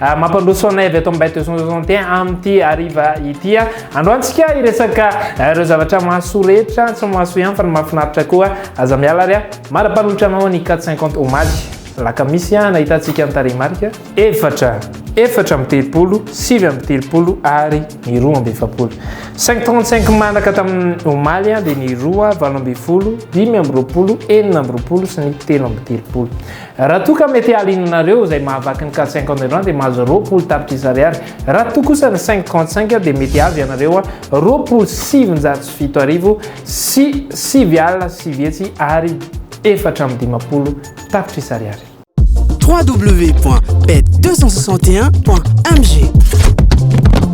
Ah, mampandroso anay avy ato amin'ny Bête 261 amin'ity hariva ity. Ah. Androantsika hiresaka eh, ireo zavatra mahasoa rehetra, tsy mahasoa ihany fa ny mahafinaritra koa. Ah. Aza miala ary marapanolotra anao ny 450 omaly. Lakamisy nahitantsika ny tarehimarika efatra efatra amin'ny telopolo, sivy amin'ny telopolo ary ny roa amby efapolo. 535 manaka tamin'ny omaly dia ny roa valo amby folo, dimy amby roapolo, enina amby roapolo sy ny telo amby telopolo. Raha toa ka mety hahaliananareo izay mahavaky ny carte cinquante francs dia mahazo roapolo tapitrisa ariary. Raha toa kosa ny cinq trente cinq dia mety azo ianareo roapolo sy sivinjato sy fito arivo sy sivy alina sy sivy hetsy ary efatra amby dimampolo tapitrisa ariary. www.bet261.mg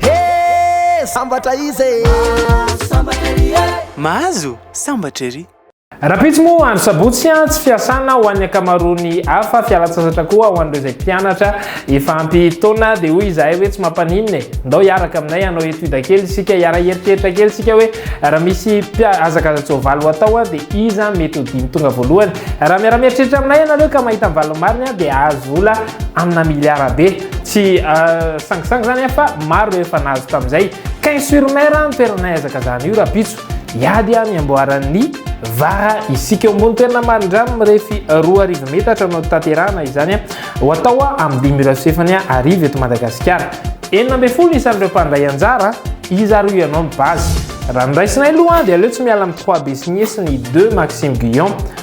Hee sambatra izy e! Mahazo sambatra ery e! Mahazo sambatra ery! Rahampitso moa andro sabotsy tsy fiasana ho an'ny ankamaroan'ny hafa, fialantsasatra koa ho an'ireo izay mpianatra efa ampy taona dia hoy izahay hoe tsy mampaninona e! Ndao hiaraka aminay hanao étude kely isika, hiara-hieritreritra kely isika hoe raha misy hazakaza-tsoavaly ho atao dia iza mety ho dimy tonga voalohany? Raha miara-mieritreritra aminay ianareo ka mahita ny valiny marina dia hahazo vola amina miliara be. Tsy sangisangy zany fa maro ireo efa nahazo tamin'izay. Quinze sur mer no toerana nahezakazahana io rahampitso. Hiady amin'ny amboaran'ny vara isika. Eo ambony toerana marindrano mirefy roa arivo metatra no tanterahana izany ho atao amin'ny dimy ora sy fahefany hariva eto Madagasikara. Enina ambin'ny folo isan'ireo mpandray anjara, iza ary hoy ianao ny base? Raha ny raisinay aloha dia aleo tsy miala amin'ny trois Bessigné sy ny deux Maxime Guyon.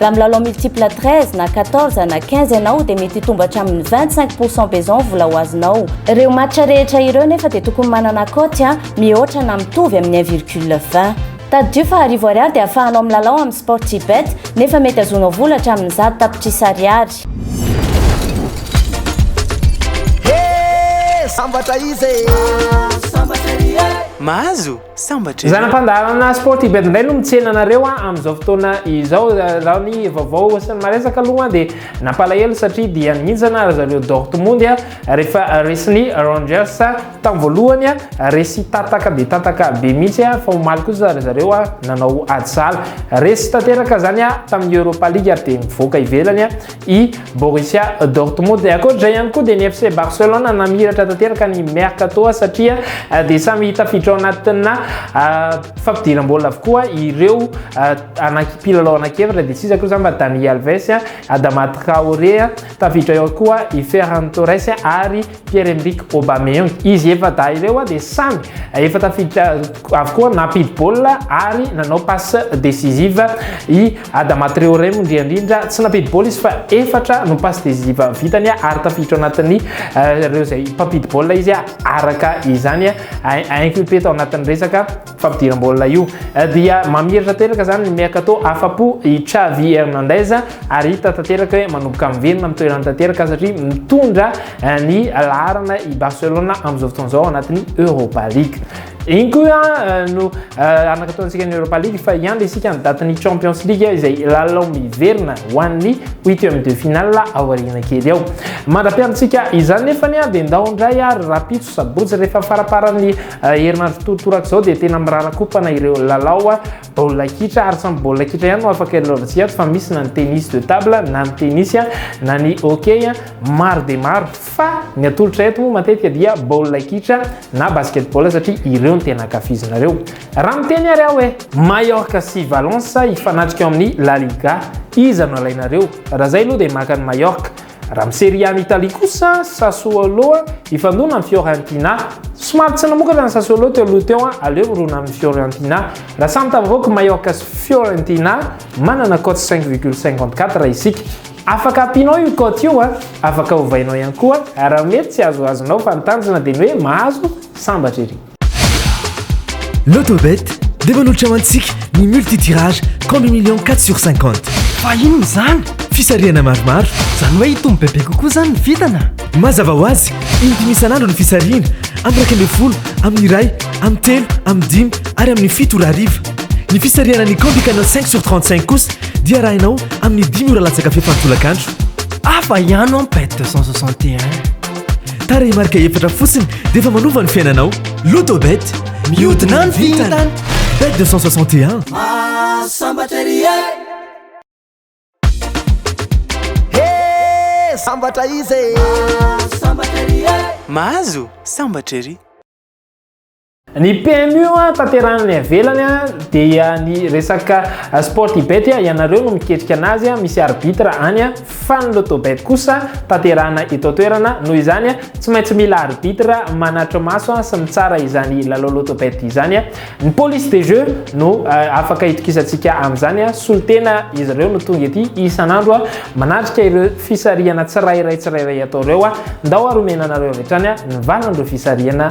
Raha milalao multiple 13 na 14 na 15 ianao dia mety hitombo hatramin'ny 25 pourcent beson vola ho azonao. Ireo match rehetra ireo nefa dia tokony manana cote a mihoatra na mitovy amin'ny 1 virgule 20. Tadidio fa arivo ariary dia ahafahanao milalao amin'ny Sportybet nefa mety azonao vola hatramin'ny zato tapitrisa ariary. He! Sambatra izy e! Mahazo? Sambatra ianao. Zana fandaharana sport tibet indray no mitsena anareo a amin'izao fotoana izao raha ny vaovao sy ny maresaka aloha dia nampalahelo satria dia nihintsana ry zareo Dortmund a rehefa resin'ny Rangers tamin'ny voalohany a resy tataka dia tataka be mihitsy a fa omaly kosa ry zareo a nanao ady sahala resy tanteraka zany a tamin'ny Europa League ary dia nivoaka ivelany a i Borussia Dortmund. Dia ankoatra izay ihany koa dia ny FC Barcelona namiratra tanteraka ny Mercato satria dia samy tafiditra ao anatina fampidiram-bola avokoa ireo anaky mpilalao anaky efatra dia tsy iza koa izany fa Dani Alves, Adama Traoré, tafiditra ao koa i Ferran Torres ary Pierre Emerick Aubameyang, izy efa-dahy ireo dia samy efa tafiditra avokoa nampidi baolina ary nanao passe decisive, i Adama Traoré moa ndry indrindra tsy nampidi baolina izy fa efatra no passe decisive vitany ary tafiditra ao anatin'ny ireo izay mpampidi baolina izy araka izany inculpé tao anatin'ny resaka. fampidiram-baolina io dia mamiratra teraka zany ny mercato afa-po i Xavi Hernandez ary hita tanteraka hoe manomboka miverina amin'ny toerany tanteraka satria mitondra eh, ny laharana i Barcelona amin'izao fotoana izao anatin'ny Europa League. Iny koa eh, no eh, anakataontsika ny Europa League fa hiandry isika ny datin'ny Champions League izay lalao miverina ho an'ny huitième de finale ao aoriana kely ao. Mandra-piantsika izany nefa dia ndao indray ary rapitso sabotsy rehefa faraparan'ny Herinandro totorak'izao dia tena mirara kopana ireo lalao baolina kitra ary samy baolina kitra ihany no afaka ilalaovantsika ato fa misy na ny tennis de table na ny tennis na ny hockey maro dia maro fa ny atolotra eto moa matetika dia baolina kitra na basketball satria ireo ny tena ankafizinareo. Raha miteny ary aho hoe Mallorca sy Valence hifanatrika ao amin'ny La Liga iza no alainareo? Raha izay aloha dia maka an'i Mallorca. Raha amin'ny Serie A-n'i Italie kosa, Sassuolo hifandona amin'ny Fiorentina. Somary tsy namokatra ny Sassuolo teo aloha teo, aleo mirona amin'ny Fiorentina. Raha samy tafavoaka Mallorca sy Fiorentina, manana cote cinq virgule cinquante quatre isika. Afaka ampianao io cote io, afaka ovainao ihany koa raha mety tsy azoazonao fa ny tanjona dia ny hoe mahazo sambatra ery. Lotobet dia manolotra ho antsika ny multi-tirage compte million 4 sur 50. Fa inona izany? Fisarihana maromaro. Izany hoe hitombo bebe kokoa izany ny vintana? Mazava ho azy, in-dimy isan'andro ny fisarihana, amin'ny iraika ambin'ny folo, amin'ny iray, amin'ny telo, amin'ny dimy ary amin'ny fito ora hariva. Ny fisarihana ny compte canal cinq sur trente cinq kosa dia arahinao amin'ny dimy ora latsaka fefany tolakandro. Hafa ihany an bet deux cent soixante et un. Tarehimarika efatra fotsiny dia efa manova ny fiainanao. Lotobet, mihodina ny vintana. Bet 261. Sambatra ry e. He, sambatra izy e. Sambatra ry e. Mahazo sambatra ery. Ny PMU tanterahina any ivelany dia ny resaka sport ibet ianareo no miketrika anazy misy arbitre any fa ny loto bet kosa tanterahina eto an-toerana noho izany tsy maintsy mila arbitre manatri-maso sy mitsara izany lalao loto bet izany ny police des jeux no eh, afaka itokisantsika amin'izany solotena izy ireo no tonga ety isan'andro manatrika ireo fisarihana tsirairay tsirairay atao ireo ndao ary omena anareo avy hatrany ny valan'ireo fisarihana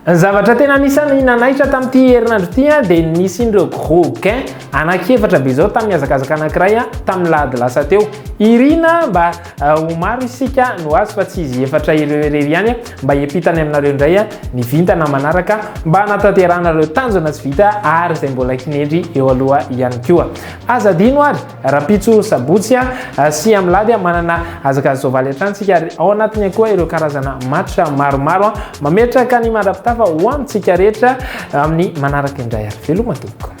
Ny zavatra tena anisan'ny nanaitra tamin'ity herinandro ity dia ny nisian'ireo gros gains anankiefatra be izao tamin'ny hazakazaka anankiray tamin'ny lahady lasa teo. Irina mba ho maro isika no azy fa tsy izy efatra ireo irery ihany mba hiampita any aminareo indray ny vintana manaraka mba hanatanterahana ireo tanjona tsy vita ary izay mbola hinendry eo aloha ihany koa. Aza adino ary Rahampitso sabotsy sy amlady manana hazaka zao valentine tsika ary ao anatiny akoa ireo karazana match maromaro mametraka ny mandrapitafa ho amintsika rehetra amin'ny manaraka indray ary veloma tompoko.